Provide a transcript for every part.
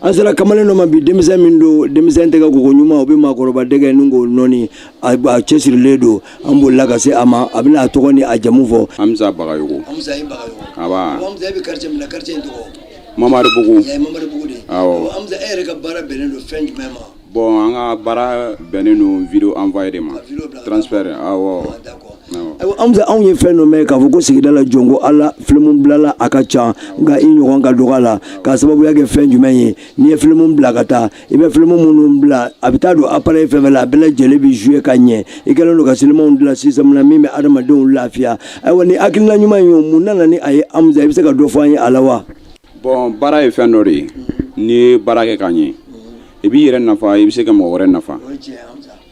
an sera kamalen dɔ ma bi denmisɛn min don denmisɛn tɛgɛ koko ɲuman o bɛ maakɔrɔba dɛgɛmugu nɔɔni a cɛsirilen don an bolila ka se a ma a bɛna a tɔgɔ ni a jamu fɔ amza bagayogo amza i bagayogo nba amza e bɛ quartier min na quartier in tɔgɔ mamaribugu mamaribugu de awɔ amza e yɛrɛ ka baara bɛnnen don fɛn jumɛn ma Bon an ka baara bɛnnen don video envoyer de ma transfert awɔ Amza anw ye fɛn dɔ mɛn k'a fɔ ko sigida la jɔn ko Ala film bilala a ka ca nka i ɲɔgɔn ka dɔgɔ a la k'a sababuya kɛ fɛn jumɛn ye n'i ye film bila ka taa i bɛ film minnu bila a bɛ taa don appareil fɛn o fɛn la a bɛɛ lajɛlen bɛ jouer ka ɲɛ i kɛlen don ka silimanw dilan système na min bɛ adamadenw lafiya ayiwa nin hakilina ɲuman in ye mun nana ni a ye Amza i bɛ se ka dɔ fɔ an ye a la wa? Bon baara ye fɛn dɔ de ye n'i ye baara kɛ k'a ɲɛ i b'i yɛrɛ nafa i bɛ se ka mɔgɔ wɛrɛ nafa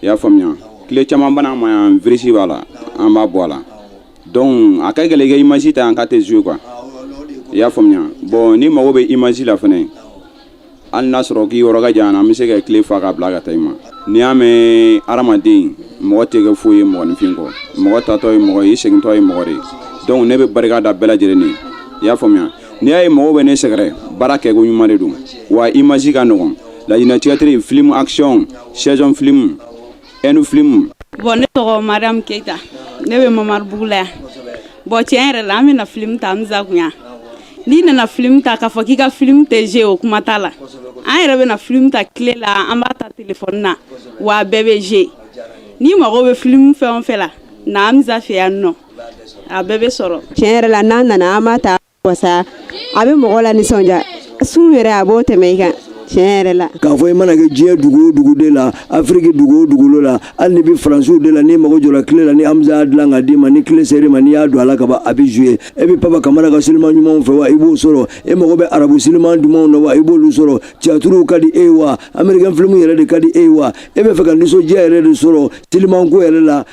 i y'a faamuya clé caman bɛ na an ma yan virisi b'a la an b'a bɔ a la donc a ka gɛlɛn i ka image ta an kun a tɛ jouer quoi i y'a faamuya bon n'i mago bɛ image la fana hali n'a sɔrɔ k'i yɔrɔ ka jan an bɛ se ka clé fa k'a bila ka taa i ma n'i y'a mɛn hadamaden mɔgɔ tɛ kɛ foyi ye mɔgɔninfin kɔ mɔgɔ taatɔ ye mɔgɔ ye i segintɔ ye mɔgɔ de ye donc ne bɛ barika da bɛɛ lajɛlen ye i y'a faamuya n'i y'a ye mɔgɔw bɛ ne sɛgɛrɛ baara kɛko ɲuman de don wa image ka nɔgɔn laɲinɛ theatre film action saison film ɛndu filimu. bon ne tɔgɔ mariam keyita ne bɛ mamaribugu la yan bon tiɲɛ yɛrɛ la an bɛ na filimu ta amza kun yan n'i nana filimu ta k'a fɔ k'i ka filimu tɛ jouer o kuma t'a la an yɛrɛ bɛ na filimu ta clé la an b'a ta telefɔni na wa a bɛɛ bɛ jouer n'i mago bɛ filimu fɛn o fɛn la na amza fɛ yan nɔ a bɛɛ bɛ sɔrɔ. tiɲɛ yɛrɛ la n'an nana an b'a ta wasa a bɛ mɔgɔ lanisɔndiya sun yɛrɛ a b'o tɛmɛ i kan tiɲɛ yɛrɛ la k'a fɔ i mana kɛ diɲɛ dugu o dugu de la afiriki dugu o dugukolo la hali n'i bɛ faransi de la n'i mago jɔra clé la ni hamza y'a dilan k'a d'i ma ni clé sera i ma n'i y'a don a la ka ban a bɛ jouer e bɛ papa kamara ka siliman ɲumanw fɛ wa i b'o sɔrɔ e mago bɛ arabu siliman dumanw na wa i b'olu sɔrɔ tiyatiriw ka di e ye wa amerikɛn filimu yɛrɛ de ka di e ye wa e b'a fɛ ka nisɔndiya yɛrɛ de sɔrɔ silimanko yɛrɛ la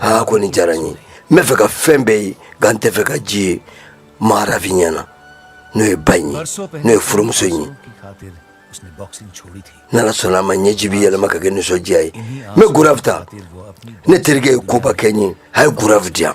aa ko nin diyara n ye n b'a fɛ ka fɛn bɛɛ ye nka n t'a fɛ ka ji ye maharafi ɲɛ na n'o ye ba in ye n'o ye furumuso in ye n'ala sɔnna a ma ɲɛji bɛ yɛlɛma ka kɛ nisɔndiya ye n bɛ gaurav ta ne terikɛ ye koba kɛ n ye a ye gaurav di yan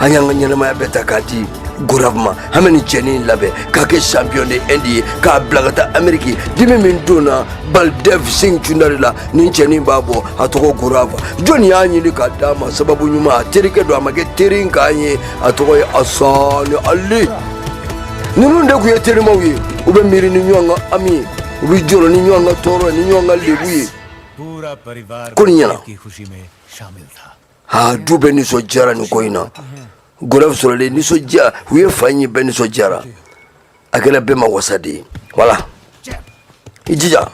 an y'an ka ɲɛnamaya bɛɛ ta k'a di gaurav ma an bɛ nin cɛni in labɛn k'a kɛ champion de indi ye k'a bila ka taa ameriki dimi min don na baldev singh chaudhary la nin cɛni b'a bɔ a tɔgɔ gaurav jɔni y'a ɲini k'a d'a ma sababu ɲuman a terikɛ don a ma kɛ teri in k'an ye a tɔgɔ ye asani ali ninnu de tun ye terimaw ye u bɛ miiri ni ɲɔgɔn ka hami ye u bɛ jɔrɔ ni ɲɔgɔn ka tɔɔrɔ ni ɲɔgɔn ka lebu ye ko nin ɲɛna aa du bɛɛ nisɔndiyara nin ko in na goraf sɔrɔlen nisɔndiya u ye fa in ye bɛɛ nisɔndiyara a kɛra bɛɛ ma wasa de ye wala i jija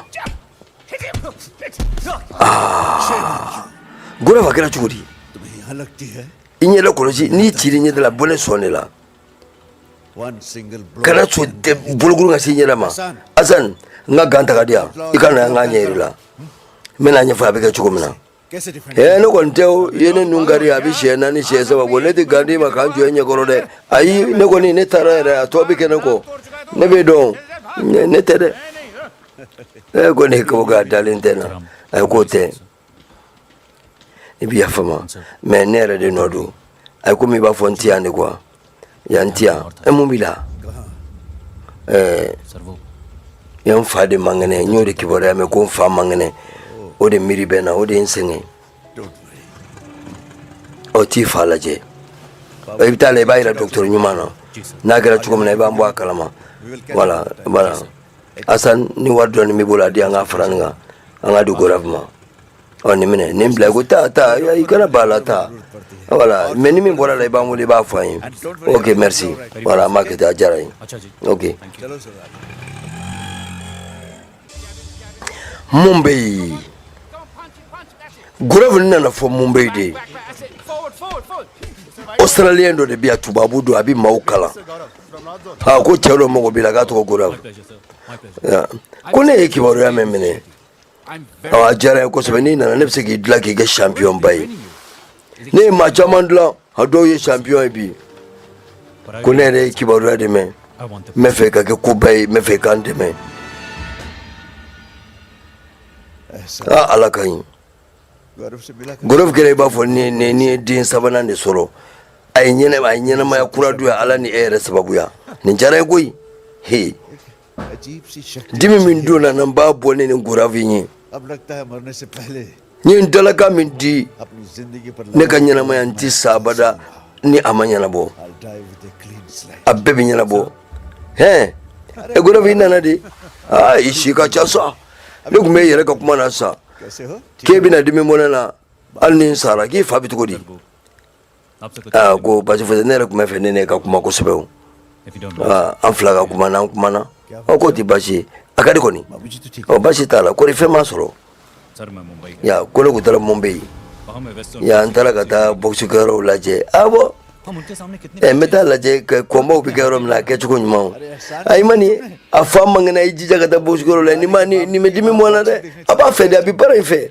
aa goraf a kɛra cogo di i ɲɛ la kɔlɔsi n'i ciri ɲɛda la bɔlɛ sɔn ne la kana sɔn bolokuru ka se i ɲɛ la ma asan n ka gan ta ka di yan i ka na n k'a ɲɛ yira i la n bɛn'a ɲɛfɔ a bɛ kɛ cogo min na ee ne kɔni tɛ o ye ne nun kari a bɛ siɲɛ naani siɲɛ saba bɔ ne tɛ gan di i ma ka n jɔ i ɲɛ kɔrɔ dɛ ayi ne kɔni ne taara yɛrɛ a tɔ bɛ kɛ ne kɔ ne bɛ dɔn ne tɛ dɛ ee ko ne ko k'a dalen tɛ n na ayi k'o tɛ i bɛ yafa n ma mais ne yɛrɛ de nɔ don a ye komi i b'a fɔ n ti yan de quoi Yan ti yan e mun b'i la ɛɛ i n fa de man kɛnɛ n y'o de kibaruya mɛn ko n fa man kɛnɛ o de miiri bɛ na o de ye n sɛgɛn ɔ taa i fa lajɛ i bɛ taa la i b'a yira dɔgɔtɔrɔ ɲuman na n'a kɛra cogo min na i b'an bɔ a kalama voilà asan ni wari dɔɔni b'i bolo a di an k'a fara nin kan an k'a di goraf ma ɔ nin minɛ nin bila ko taa taa i kana b'a la taa voilà mais ni min bɔra la i b'an wele i b'a fɔ an ye ok merci voilà an b'a kɛ ten a diyara n ye ok mumbai goraf nana fo mumbai de australien dɔ de bɛ yan tubabu don a bɛ maaw kalan a ko cɛ dɔ mago b'i la k'a tɔgɔ goraf ko ne y'i kibaruya mɛn minɛ a diyara n ye kosɛbɛ n'i nana ne bɛ se k'i dilan k'i kɛ champion ba ye ne ye maa caman dilan a dɔw ye champion ye bi ko ne yɛrɛ y'i kibaruya de mɛn n b'a fɛ ka kɛ koba ye n b'a fɛ i ka n dɛmɛ a ala ka ɲi goraf kɛra i b'a fɔ ne ye den sabanan de sɔrɔ a ye ɲɛnamaya kura don ya ala ni e yɛrɛ sababuya nin diyara n ye koyi he dimi min don n na n b'a bɔ ne ni gorafi ye n ye n dalakan min di ne ka ɲɛnamaya n ti sa abada ni a ma ɲɛnabɔ a bɛɛ bɛ ɲɛnabɔ hɛn e gorafi nana dɛ aa i si ka ca sa ne tun b'e yɛrɛ ka kuma na sa k'e bɛna dimi bɔ ne na hali ni n sara k'i fa bɛ cogo di aa ko basi foyi tɛ ne yɛrɛ tun b'a fɛ ne n'e ka kuma kosɛbɛ o aa an fila ka kuma n'an kumana ɔ k'o tɛ basi ye a ka di kɔni ɔ basi t'a la kɔri fɛn m'a sɔrɔ ya ko ne tun taara mumbai ya n taara ka taa bɔgisi kɛyɔrɔw lajɛ a bɔ ɛ n bɛ taa lajɛ ko kɔnbaw bɛ kɛ yɔrɔ min na a kɛcogo ɲuman o ayi ma nin a fa man kɛnɛ i jija ka taa bɔgisi kɛyɔrɔ la ni ma ni nin bɛ dimi bɔ n na dɛ a b'a fɛ de a bɛ baara in fɛ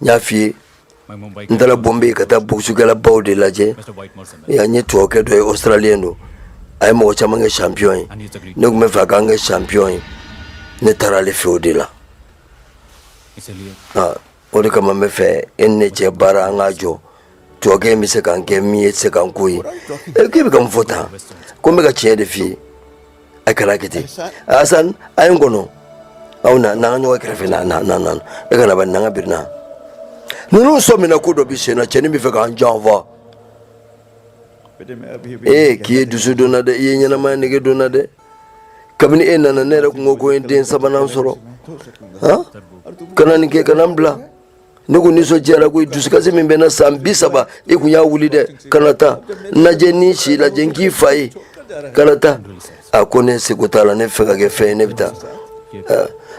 n y'a f'i ye n taara bɔnbe ka taa bɔkisikɛlabaw de lajɛ an ye tubabukɛ dɔ ye australien don a ye mɔgɔ caman kɛ champion ye ne tun bɛ fɛ a k'an kɛ champion ye ne taara ale fɛ o de la o de kama n bɛ fɛ e ni ne cɛ baara an k'a jɔ tubabukɛ in bɛ se k'an kɛ min ye tɛ se k'an k'o ye k'e bɛ ka mun fɔ tan ko n bɛ ka tiɲɛ de f'i ye a kana kɛ ten asan a ye n kɔnɔ aw na n'an ka ɲɔgɔn kɛrɛfɛ na na na na e kana ba n'an ka birina ninnu sɔmina ko dɔ bi sen na cɛnin bɛ fɛ k'an janfa ee k'i ye dusu don n na dɛ i ye ɲɛnamaya nege don n na dɛ kabini e nana ne yɛrɛ kun ko ko n ye den sabanan sɔrɔ han kana nin kɛ kana n bila ne kun nisɔndiyara ko dusukasi min bɛ n na san bi saba i kun y'a wuli dɛ kana taa n lajɛ ne si lajɛ n k'i fa ye kana taa a ko ne seko t'a la ne fɛ ka kɛ fɛn ye ne bɛ taa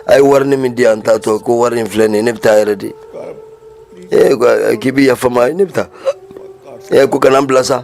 a ye warini min di an taatɔ ko wari in filɛ nin ye ne bɛ taa yɛrɛ de ee k'i bɛ yafa n ma ne bɛ taa ee ko kana n bila sa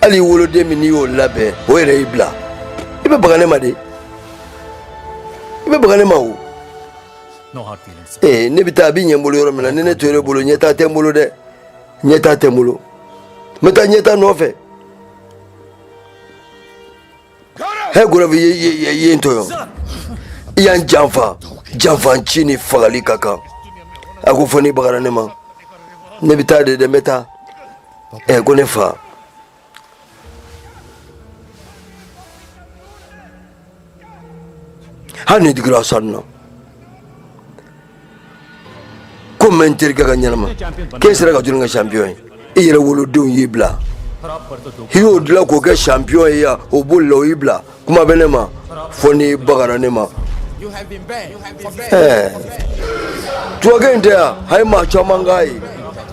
hali i woloden min n'i y'o labɛn o yɛrɛ y'i bila i bɛ baga ne ma de i bɛ baga ne ma o ee ne bɛ taa a bɛ ɲɛ n bolo yɔrɔ min na ni ne tora e bolo ɲɛtaa tɛ n bolo dɛ ɲɛtaa tɛ n bolo n bɛ taa ɲɛtaa nɔfɛ He gaurav i ye n tɔɲɔ i y'an janfa janfanci ni fagali ka kan a ko fo n'i bagara ne ma ne bɛ taa de dɛ n bɛ taa ɛ ko ne fa hali ni digira sanu na ko mɛ n terikɛ ka ɲɛnama k'e sera ka jɔni kɛ champion ye i yɛrɛ woloden y'i bila i y'o dilan k'o kɛ champion ye yan o bolila o y'i bila kuma bɛ ne ma fo n'i bagara ne ma tubabukɛ in tɛ yan a ye maa caman k'a ye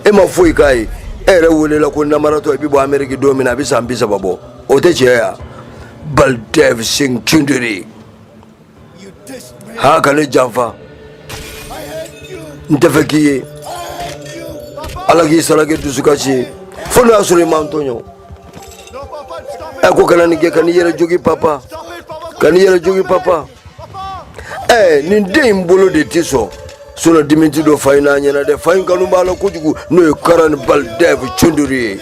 e ma foyi k'a ye e yɛrɛ welela ko namaratɔ i bɛ bɔ ameriki don min na a bɛ san bi saba bɔ o tɛ tiɲɛ ye wa baldev singh choudhary Ha ka ne janfa n tɛ fɛ k'i ye ala k'i sara kɛ dusukasi ye fo n'o y'a sɔrɔ i ma n tɔɲɔ ɛ ko kana nin kɛ kan'i yɛrɛ jogin papa kan'i yɛrɛ jogin papa ɛ nin den in bolo de tɛ sɔn solo diminti dɔ fa in n'a ɲɛna dɛ fa in kanu b'a la kojugu n'o ye karan baldev cunduri ye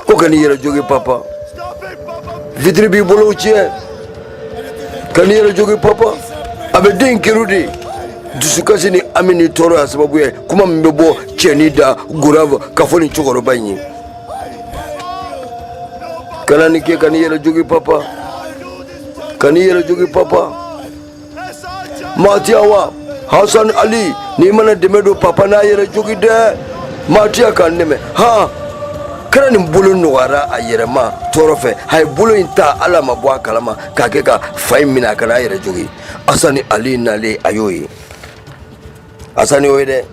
ko kan'i yɛrɛ jogi papa vitiri b'i bolow tiɲɛ kan'i yɛrɛ jogi papa a bɛ den kiriw de dusukasi ni hami ni tɔɔrɔ y'a sababu ye kuma min bɛ bɔ cɛnin da gorav k'a fɔ nin cɛkɔrɔba in ye kana nin kɛ kan'i yɛrɛ jogi papa kan'i yɛrɛ jogi papa Matiawa Hassan Ali n'i ma na dɛmɛ don papa n'a yɛrɛ jogi dɛ Matia ka n dɛmɛ han karan bolo nɔgɔyara a yɛrɛ ma tɔɔrɔ fɛ a ye bolo in ta ale ma bɔ a kalama k'a kɛ ka fa in minɛ a kana a yɛrɛ jogi Hassan Ali nalen a y'o ye Hassan y'o ye dɛ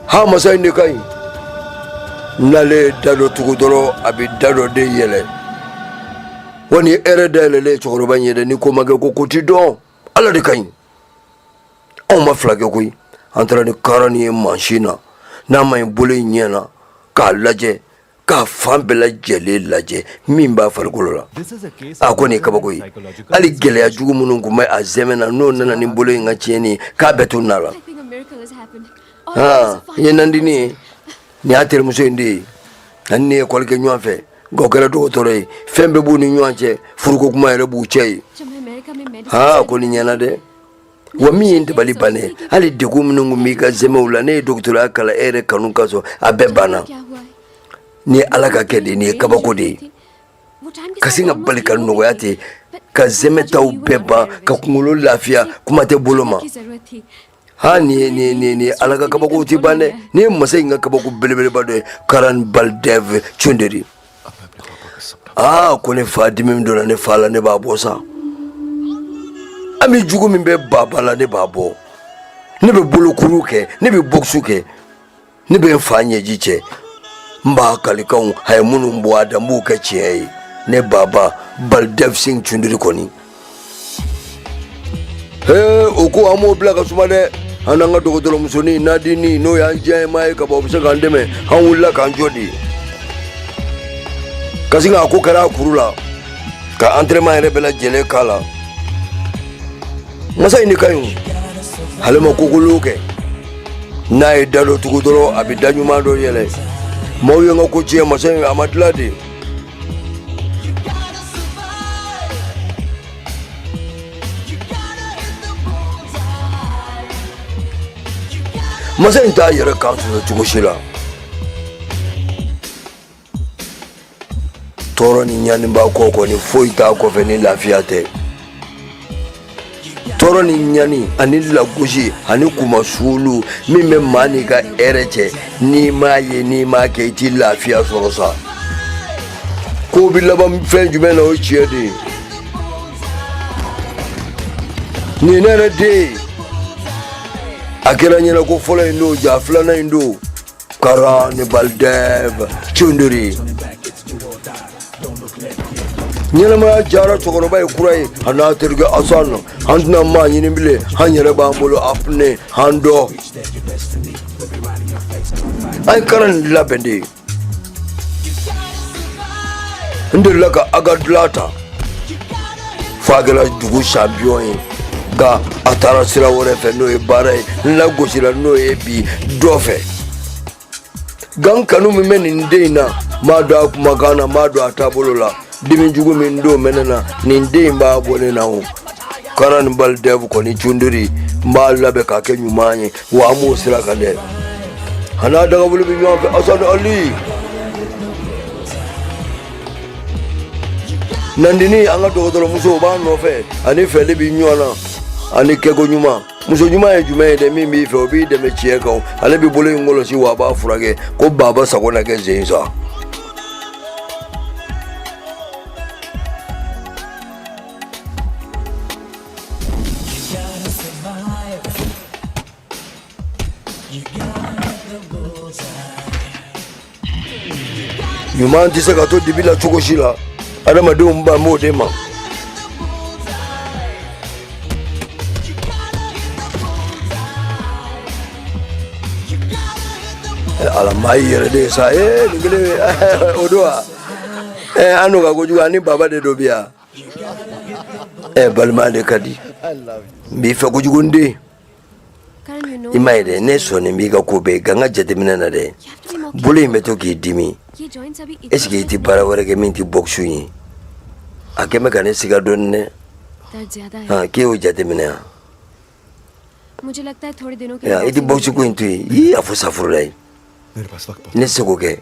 ha masa in de ka ɲi n'ale da dɔ tugu dɔrɔn a bɛ da dɔ de yɛlɛ wa ni hɛrɛ da yɛlɛlen cɛkɔrɔba in ye dɛ ni ko ma kɛ ko ko ti dɔn ala de ka ɲi anw ma fila kɛ koyi an taara ni karan ye mansin na n'a ma ɲi bolo in ɲɛ na k'a lajɛ k'a fan bɛɛ lajɛlen lajɛ min b'a farikolo la a ko nin ye kabako ye hali gɛlɛya jugu minnu tun bɛ a zɛmɛ na n'o nana ni bolo in ka tiɲɛni ye k'a bɛɛ tununa a la nin ye nandini ye nin y'a terimuso in de ye ani ne ye ekɔli kɛ ɲɔgɔn fɛ nka o kɛra dɔgɔtɔrɔ ye fɛn bɛɛ b'u ni ɲɔgɔn cɛ furuko kuma yɛrɛ b'u cɛ ye aa ko nin ɲɛna dɛ wa min ye dabaliban ye hali degun minnu tun b'i ka zɛmɛw la ne ye dɔgɔtɔrɔya kalan e yɛrɛ kanu ka sɔrɔ a bɛɛ banna ni ala ka kɛ de nin ye kabako de ye ka sin ka bali ka nɔgɔya ten ka zɛmɛ taw bɛɛ ban ka kunkolo lafiya kuma tɛ bolo ma ha nin ye nin ye nin ye nin ye ala ka kabako tɛ ban dɛ nin ye masa in ka kabako belebeleba dɔ ye karan balidɛv cunderi aa ko ne fa dimi min donna ne fa la ne b'a bɔ sa hami jugu min bɛ baba la ne b'a bɔ ne bɛ bolokuru kɛ ne bɛ bɔksu kɛ ne bɛ n fa ɲɛji cɛ n b'a kalikanw a ye minnu bɔ a da n b'u kɛ tiɲɛ ye ne baba balidɛv sing cundiri kɔni ee o ko an b'o bila ka suma dɛ an n'an ka dɔgɔtɔrɔmusonin nandini n'o y'an jɛmaa ye ka bɔ o bɛ se k'an dɛmɛ an wulila k'an jɔ de ka sin k'a ko kari a kuru la ka antrɛnɛman yɛrɛ bɛɛ lajɛlen k'a la masa in de ka ɲi o ale ma ko kolon kɛ n'a ye da dɔ tugu dɔrɔn a bɛ da ɲuman dɔ yɛlɛ maaw ye n ka ko tiɲɛ masa in a ma dilan de masa in t'a yɛrɛ kan sɔsɔ cogo si la tɔɔrɔ ni ɲaniba kɔ kɔni foyi t'a kɔfɛ ni lafiya tɛ tɔɔrɔ ni ɲani ani lagosi ani kunmasuuli min bɛ maa n'i ka hɛrɛ cɛ n'i m'a ye n'i m'a kɛ i t'i lafiya sɔrɔ sa ko bi laban fɛn jumɛn na o tiɲɛ de ye ni ne yɛrɛ den a kɛra ɲɛna ko fɔlɔ in don ja filanan in don Karan Baldev Chunduri ɲɛnamaya jara cɛkɔrɔba ye kura ye a n'a terikɛ asan na an tɛna maa ɲini bilen an yɛrɛ b'an bolo apne an don an ye karan nin labɛn de ye n delila ka a ka dila ta f'a kɛra dugu champion ye nka a taara sira wɛrɛ fɛ n'o ye baara ye n lagosira n'o ye bi dɔ fɛ gan kanu min bɛ nin den in na n b'a dɔn a kumakan na n b'a dɔn a taabolo la dimi jugu min don bɛ ne na nin den in b'a bɔ ne na o Karan nin Baldev kɔni Chunduri n b'a labɛn k'a kɛ ɲuman ye wa an b'o sira kan dɛ a n'a dagabolo bɛ ɲɔgɔn fɛ asan ali nandini an ka dɔgɔtɔrɔmuso o b'a nɔfɛ ani fɛli bi ɲɔgɔn na ani kɛko ɲuman muso ɲuman ye jumɛn ye dɛ min b'i fɛ o b'i dɛmɛ tiɲɛ kan ale bi bolo in kɔlɔsi wa a b'a furakɛ ko baba sago na kɛ zen sa ɲuman tɛ se ka to dibi la cogo si la adamadenw ban b'o de ma ala maa y'i yɛrɛ de ye sa ee nin kelen o don wa ee an n'o ka kojugu ani baba den dɔ bi yan ee balima de ka di n b'i fɛ kojugu n den i m'a ye dɛ ne sɔnnen b'i ka ko bɛɛ nka n ka jateminɛ na dɛ bolo in bɛ to k'i dimi est-ce que i tɛ baara wɛrɛ kɛ min tɛ bɔkisi ye a kɛ bɛ ka ne siga dɔɔni dɛ k'e y'o jateminɛ yan i tɛ bɔkisi ko in to yen a fɔ safurulayi ne se k'o kɛ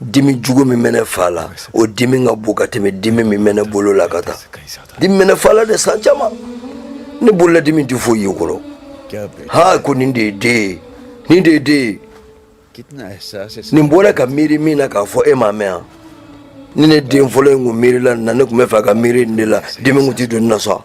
dimi jugu min bɛ ne fa la o dimi ka bon ka tɛmɛ dimi min bɛ ne bolo la ka taa dimi bɛ ne fa la de san caman ne bolo la dimi tɛ foyi ye o kɔrɔ ha ko nin de ye den ye nin de ye den ye nin bɔra ka miiri min na k'a fɔ e m'a mɛn yan ni ne den fɔlɔ in kun miirila nin na ne tun bɛ fɛ ka miiri nin de la dimi kun tɛ don ne na sa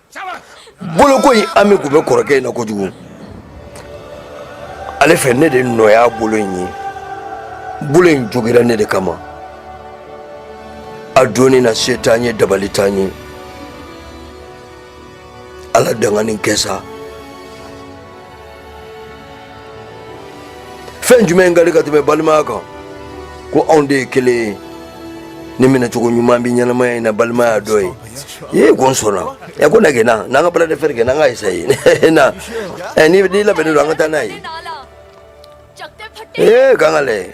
bolo ko in hami tun bɛ kɔrɔkɛ in na kojugu ale fɛ ne de nɔ y'a bolo in ye bolo in jogira ne de kama a donni na se t'an ye dabali t'an ye ala danganin kɛ sa fɛn jumɛn ka di ka tɛmɛ balimaya kan ko anw de ye kelen ye ni minɛcogo ɲuman bɛ ɲɛnamaya in na balimaya dɔ ye ye ko n sɔnna ɛ ko na kɛ na n'an ka bras de fer kɛ n'an ka esaye na ɛ n'i labɛnnen don an ka taa n'a ye ee k'an k'a lajɛ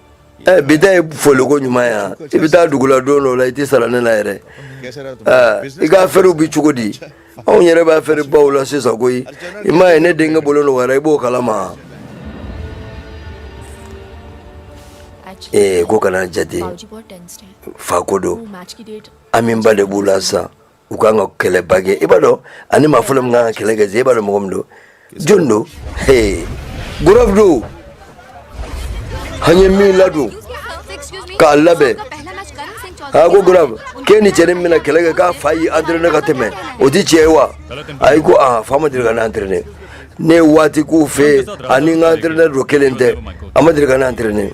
Eh, bi ta ye foliko ɲuman yan i bɛ taa dugu la don dɔ la i tɛ sara ne la yɛrɛ eh, i ka afɛriw bi cogo di anw yɛrɛ bɛ afɛri baw la sisan koyi i m'a ye ne denkɛ bolo nɔgɔyara i b'o kalama ee eh, ko kana jate fa ko don hamiba de b'u la sisan u ka kan ka kɛlɛba kɛ i b'a dɔn ani maa fɔlɔ min kan ka kɛlɛ kɛ i b'a dɔn mɔgɔ min don jɔni don Gaurav don an ye min ladon k'a labɛn a ko Gaurav k'e ni cɛnin min bɛna kɛlɛ kɛ k'a fa y'i entraîné ka tɛmɛ o ti tiɲɛ ye wa ayi ko aa fa ma deli ka ne entraîné ne ye waati k'u fɛ ani n ka entraîneur don kelen tɛ a ma deli ka ne entraîné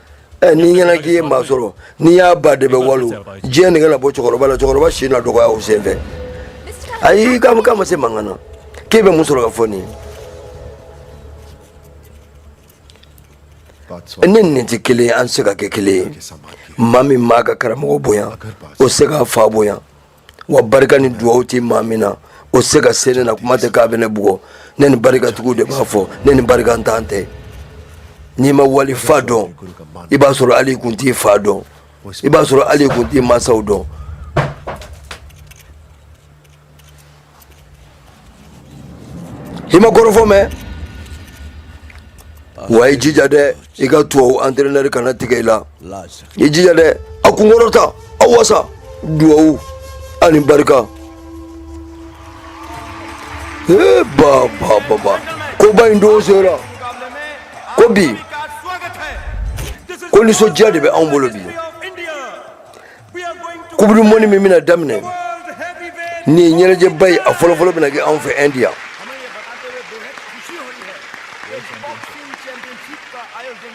Eh, n'i ɲɛna k'i ye maa sɔrɔ n'i y'a ba de bɛ walo diɲɛ nɛgɛ na bɔ cɛkɔrɔba la cɛkɔrɔba si na dɔgɔya o senfɛ ayi k'a k'a ma se mankan na k'e bɛ mun sɔrɔ k'a fɔ nin ye ne nin tɛ kelen ye an tɛ se ka kɛ kelen ye maa min m'a ka karamɔgɔ bonya o tɛ se k'a fa bonya wa barika ni dugawu tɛ maa min na o tɛ se ka se ne na kuma tɛ k'a bɛ ne bugɔ ne ni barikatigiw de b'a fɔ ne ni barikantan tɛ n'i ma wali fa dɔn i b'a sɔrɔ hali i kun t'i fa dɔn i b'a sɔrɔ hali i kun t'i mansaw dɔn i ma kɔrɔfɔ mɛn wa i jija dɛ i ka tubabu antrenɛri kana tigɛ i la i jija dɛ a kunkɔrɔta a wasa duwawu ani barika ee ba ba ba ba koba in don sera ko bi ko nisɔndiya de bɛ anw bolo bi coupe du monde min bɛna daminɛ nin ye ɲɛnajɛba ye a fɔlɔfɔlɔ bɛna kɛ anw fɛ ɛndi yan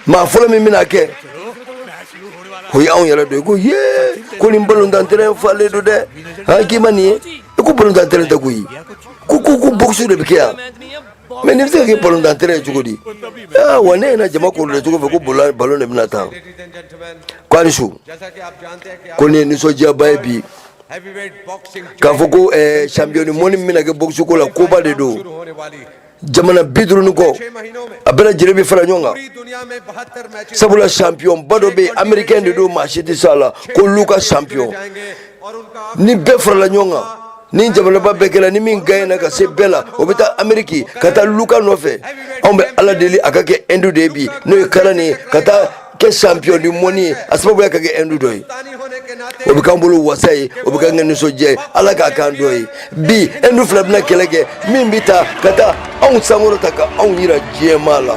maa fɔlɔ min bɛna kɛ o ye anw yɛrɛ don i ko ye ko nin balontan terɛn falen don dɛ an k'i ma nin ye i ko balontan terɛn tɛ koyi ko ko ko bɔkisi de bɛ kɛ yan Mais nin bɛ se ka kɛ balɔntan terrain ye cogo di wa ne ɲɛ na jama koorilen cogo fɛ ko balɔn de bɛna tan ko aw ni su ko nin ye nisɔndiyaba ye bi k'a fɔ ko champion du monde min bɛna kɛ boxe ko la koba de don jamana biduuru ni kɔ a bɛɛ lajɛlen bɛ fara ɲɔgɔn kan sabula championba dɔ bɛ yen americain de don maa si tɛ se a la ko luka champi ni bɛɛ farala ɲɔgɔn kan ni jamanaba bɛɛ kɛra ni min gaɲɛna ka se bɛɛ la o bɛ taa ameriki ka taa luka nɔfɛ anw bɛ ala deli a ka kɛ ɛndu de ye bi n'o ye karan nin ye ka taa kɛ champion du monde ye a sababuya ka kɛ ɛndu dɔ ye o bɛ k'an bolo wasa ye o bɛ k'an kɛ nisɔndiya ye ala k'a k'an dɔ ye bi ɛndu fila bɛna kɛlɛ kɛ min bɛ taa ka taa anw sankɔrɔta ka anw yira diɲɛmaa la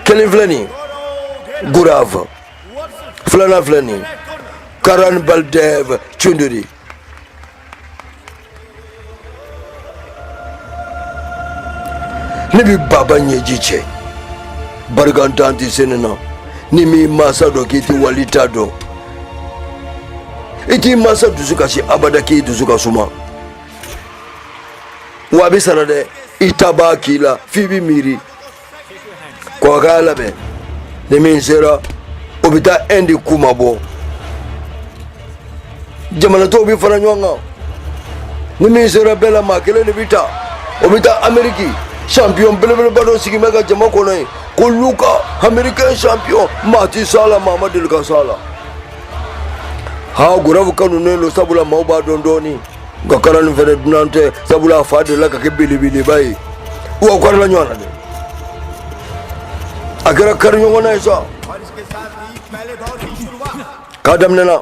kelen filɛ nin ye gurafu filanan filɛ nin ye karan baldev cunduri ne bi baba ɲɛji cɛ barikantan tɛ se ne na n'i m'i mansa dɔn k'i tɛ wali ta dɔn i t'i mansa dusu kasi abada k'i dusu ka suma wa a bɛ sara dɛ i ta b'a k'i la f'i bɛ miiri kɔkɛ ka labɛn ni min sera o bɛ taa Inde kunmabɔ jamana tɔw bɛ fara ɲɔgɔn kan ni min sera bɛɛ la maa kelen de bɛ ta o bɛ taa ameriki champion belebeleba dɔ sigi bɛ ka jama kɔnɔ yen ko luka americain champion maa ti s'a la maa ma deli ka s'a la haa gurafu kanunen don sabula maaw b'a dɔn dɔɔnin nka karan nin fɛnɛ dunan tɛ sabula a fa delila ka kɛ belebeleba ye wa u karila ɲɔgɔn na dɛ a kɛra kari ɲɔgɔn na ye sa k'a daminɛna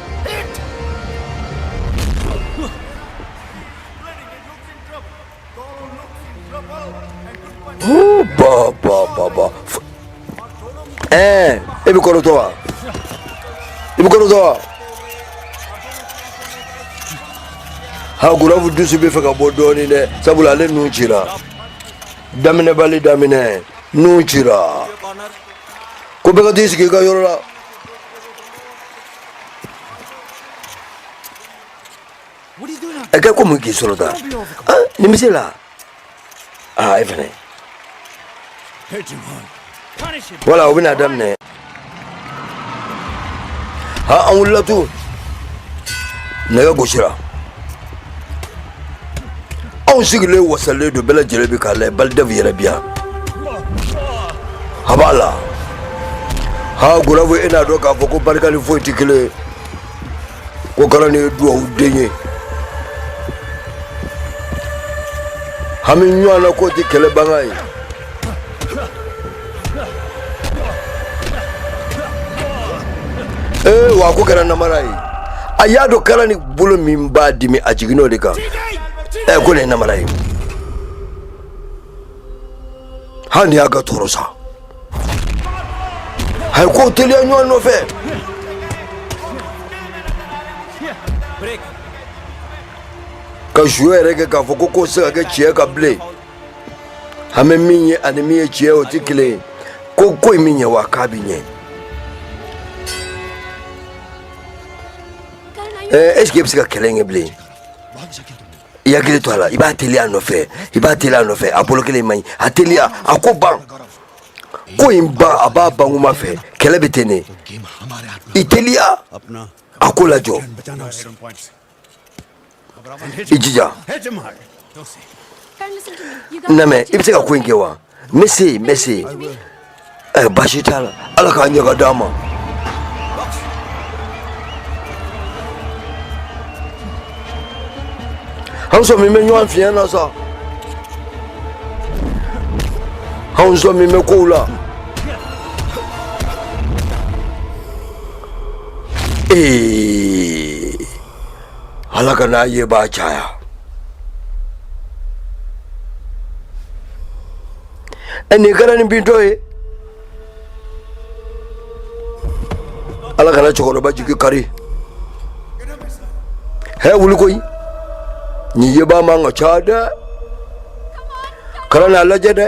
Eh, e bɛ kɔrɔtɔ wa, e bɛ kɔrɔtɔ wa. Ha gurafu dusu bɛ fɛ ka bɔ dɔɔnin dɛ, sabula ale nun cira. Daminɛbali daminɛ, nun cira. Ko bɛɛ ka t'i sigi i ka yɔrɔ la. ɛ kɛ ko mun k'i sɔrɔ tan nimisi la aa e fɛnɛ wala o bɛna daminɛ ha an wulila tun nɛgɛ gosira anw sigilen wasalen don bɛɛ lajɛlen bɛ k'a layɛ Baldev yɛrɛ bi yan a b'a la ha Gurav e n'a dɔn k'a fɔ ko barika ni foyi tɛ kelen ye ko Karan ye duwawu den ye hami ɲɔgɔn na k'o tɛ kɛlɛbaga ye ee wa ko kɛra namara ye a y'a dɔn Karan bolo min b'a dimi a jiginn'o de kan ɛ ko nin ye namara ye hali ni y'a ka tɔɔrɔ sa a ye kow teliya ɲɔgɔn nɔfɛ ka jouer yɛrɛ kɛ k'a fɔ ko k'o tɛ se ka kɛ tiɲɛ kan bilen an bɛ min ye ani min ye tiɲɛ o tɛ kelen ye ko ko in bɛ ɲɛ wa k'a bɛ ɲɛ ɛɛ est ce que e bɛ se ka kɛlɛ in kɛ bilen i hakili to a la i b'a teliya a nɔfɛ i b'a teliya a nɔfɛ a bolo kelen man ɲi a teliya a ko ban ko in ban a b'a ban kuma fɛ kɛlɛ bɛ ten de i teliya a ko lajɔ i jija n lamɛn i bɛ se ka ko in kɛ wa n bɛ se yen n bɛ se yen ɛ baasi t'a la ala k'a ɲɛ ka d'a ma. an sɔminen bɛ ɲɔgɔn fiɲɛ na sa an sɔminen bɛ kow la. Eh, Ala kana i yebaa caya. An ye Karan bintɔ ye. Ala kana cɛkɔrɔba jigi kari. Hɛ wuli koyi. Nin yebaa man ka ca dɛ. Karan a lajɛ dɛ.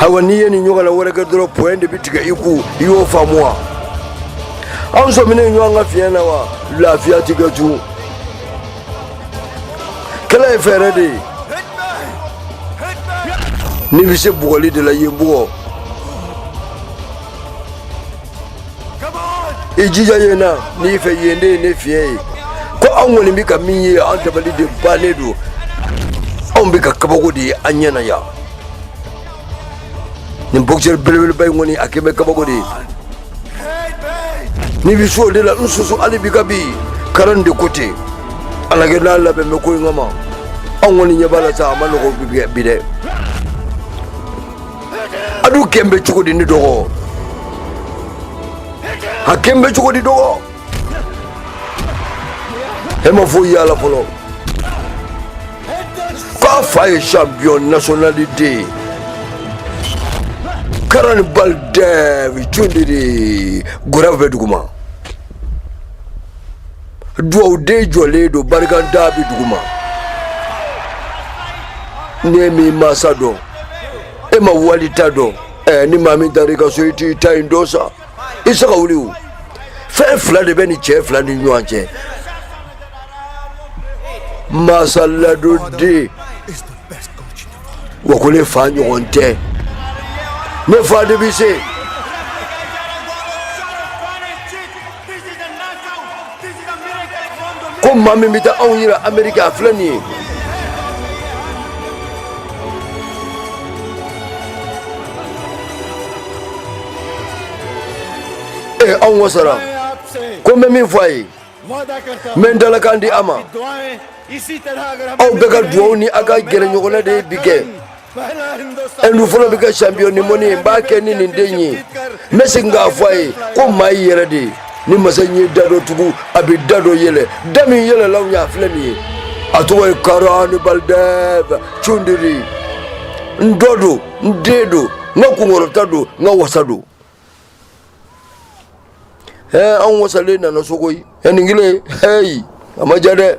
ayiwa n'i ye nin ɲɔgɔnna wɛrɛ kɛ dɔrɔn point de bɛ tigɛ i kun i y'o faamu wa anw sɔminen ɲɔgɔn ka fiɲɛ na wa lafiya ti kɛ tun kɛlɛ ye fɛɛrɛ de ye n'i bɛ se bugɔli de la i ye n bugɔ i jija ye na n'i fɛ yen de ye ne fiɲɛ ye ko anw kɔni bɛ ka min ye an dabali de bannen don anw bɛ ka kabako de ye an ɲɛ na yan nin boxeur belebeleba in kɔni a kɛ bɛ kabako de ye n'i bɛ se o de la n susu hali bi ka bi Karan de ko ten ala kɛ n'a labɛn bɛ ko in kama anw kɔni ɲɛ b'a la sa a ma nɔgɔ bi dɛ a dun kɛn bɛ cogo di ne dɔgɔ a kɛn bɛ cogo di dɔgɔ e ma foyi y'a la fɔlɔ k'a fa ye champion national de ye karan balidɛf cundiri gorav bɛ duguma duwawu den jɔlen don barikantan bɛ duguma ne min mansa dɔn e ma wali ta dɔn eh, ni maa min taara i ka so i t'i ta in dɔ sa i se ka wuli o fɛn fila de bɛ nin cɛ fila ni ɲɔgɔn cɛ masa ala don dɛ wa ko ne fa ɲɔgɔn tɛ ne fa de bɛ se ko maa min bɛ taa anw yira ameriki a filɛ nin ye ee anw wasara ko n bɛ min fɔ a ye n bɛ n dalakan di a ma aw bɛɛ ka duwawu ni a ka gɛrɛɲɔgɔnna de ye bi kɛ e dun fɔlɔ bɛ kɛ champion du monde ye n b'a kɛ ni ne den ye n bɛ segin k'a fɔ a ye ko maa y'i yɛrɛ de ye ni masa in ye da dɔ tugu a bɛ da dɔ yɛlɛ da min yɛlɛla anw ye a filɛ nin ye a tɔgɔ ye karan balidɛf cundiri n dɔ don n den don n ka kunkɔrɔta don n ka wasa don ɛɛ an wasalen nana so koyi ɛ nin kelen heyi a ma ja dɛ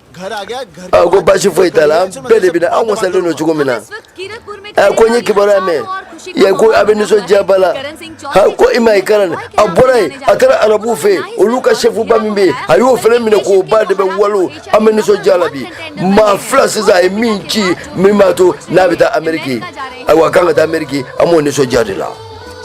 a ko basi foyi t'a la an bɛɛ de bɛna an wasalen don cogo min na a ko n ye kibaruya mɛn yan ko a bɛ nisɔndiyaba la ha ko i ma i karan nin a bɔra yen a taara arabuw fɛ yen olu ka sɛfuba min bɛ yen a y'o fana minɛ k'o ba de bɛ walo an bɛ nisɔndiya la bi maa fila sisan a ye min ci min b'a to n'a bɛ taa ameriki ayiwa a kan ka taa ameriki an b'o nisɔndiya de la